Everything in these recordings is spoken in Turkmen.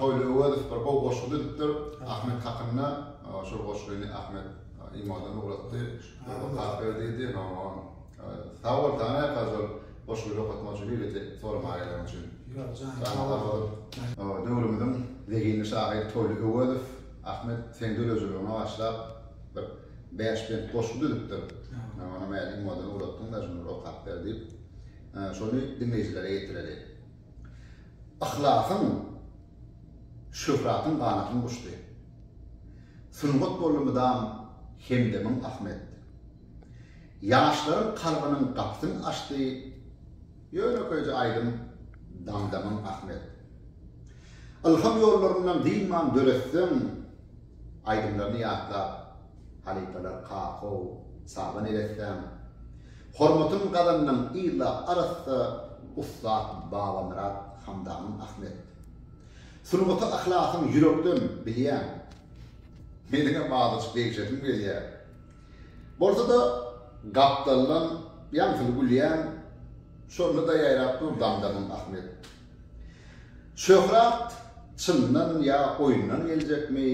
Toýly Öwezow bir gowy goşgy düzüpdir. Ahmet hakynda şol goşgyny Ahmet imodan ugratdy. Okap ber diýdi. Ondan sag bol Tanya Fazol goşgyny okatmak üçin beýlede soramaýanlygyň üçin. Janyň sag bolsun. Döwrümiziň zehinli şahyry Toýly Öwezow Ahmet seň dörejiligiňe bagyşlap bir bäş bent goşgy düzüpdir. Men onam imodan ugratdym-da şuny bir okap ber diýip. Şony diňleýjilere ýetireli. Yhlasyň, şöhratyň ganatyn guşdy. Sungat boldy mydam hemdemiň Ahmet. Ýaşlaryň kalbynyň gapysyn açdy, ýönekeýje aýdym damdamyň Ahmet. Ylham ýollaryndan dynman döretseň. Aýdymlaryny ýatlap, halypalar Kakaw, Saba neressäň, Hormatyn gazandyň yzla arassa ussat Babamyrat Hamdamyň Ahmet. Sungata yhlasyn ýürekden bilýän. Meniňem azajyk degşesim gelýär. Bolsa-da, gapdaldan ýaňsyly gülýäň, şonda-da ýaýrap dur damdagyň Ahmet. Şöhrat çyndan ýa oýundan geljekmi,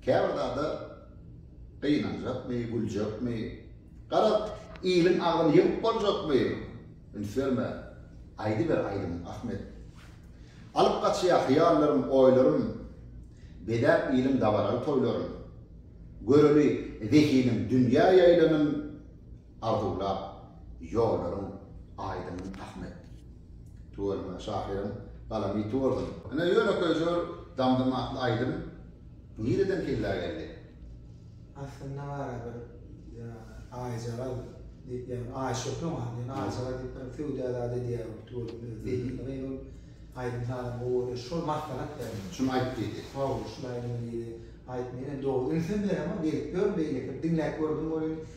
käbir zada gynanjakmy, güljekmi, garaz, iliň agyny ýygyp boljakmy, üns berme, aýdyber aýdymyňy, Ahmet. Alyp gaçýa hyýallarym, oýlarym, bezäp iliň dabaraly toýlaryn. Göreli zehiniň dünýä ýaýlanym. arzuwlap ýollaryň aýdyň Ahmet. Tüweleme şahyryň galamy ýiti bolsun. Ine ýönekeý jor Damdym atly aýdym nireden kellä geldi? Aslynda bara bir ýa Aýjagaz diýip ýa Aýşöhre bar diýen Aýjagaz diýip bir söwda zady edýär ol Tüweleme öz zehinli gyz ol aýdym sazyň gowy bolýar şol maslahat berdim. Şuny aýt diýdi. Hawa şuny aýdyň diýdi. Aýtmaýyn indi dogry ünsem beremok gelip ýör beýleki diňläp gördüm ol indi.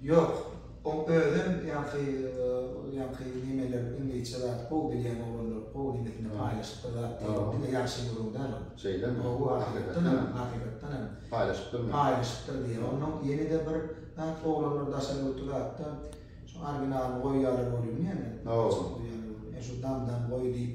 Ýok, oň özem ýaňky ýaňky nemeler iňlisçe zat gowy bilýän oglanlar gowy nemesini paýlaşypdyr zat diýip diňe ýagşyny görüň däl ol. Şeýlemi? Gowy hakykatdanam hakykatdanam paýlaşypdyrmy? Paýlaşypdyr diýýär. Onnoň ýenede bir zat oglanlar daşary ýurtda zatda şu originalyny goýýarlar welin ýene. Gowy. Ýa şu dam dam goý diýip.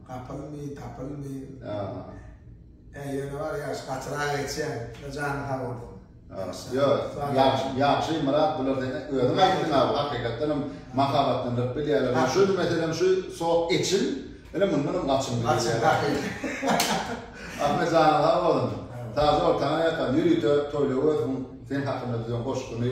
Gapylmy, tapylmy. Ýa. Ýa ýöne bar ýa şu gaçyra geçýän. Şuny jany sag bolsun. Ýa. Ýagşy, ýagşy Myrat bular sen özüň aýtdyň abi hakykatdanam mahabatlandyryp bilýärler. Şu meselem şu sok eçil. Ine mundanam gaçym gelýär. Gaçym gaýýar. Ahmet janyň sag bolsun. Taze ol taňa ýatan ýörite toýla görsün sen hakynda düzen goşgyny.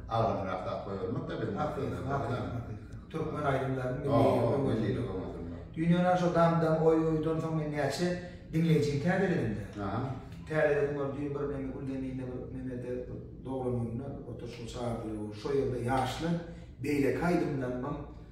Agramyrak zat goýbermek-de biziň maksadymyz bolýar. Türkmen aýdymlaryny milliligi öňe Düýnden aň şo dam-dam oý-oýdan soň men näçe diňleýjini täzeledim-de. Aha. Täzeledim ol düýn bir meniň Gülzeminde bir Memede doglan gününe oturyşyň çagyrdylar. Şo ýerde ýaşlar beýleki aýdymlarymam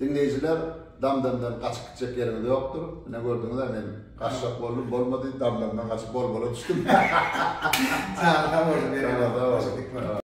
Diňleýjiler Damdamdan gaçyp gitjek ýeriňiz ýokdur. Ine gördüňiz-ä men gaçjak boldum bolmady Damdamdan gaçyp bol bola düşdüm. Sag boluň. Sag boluň.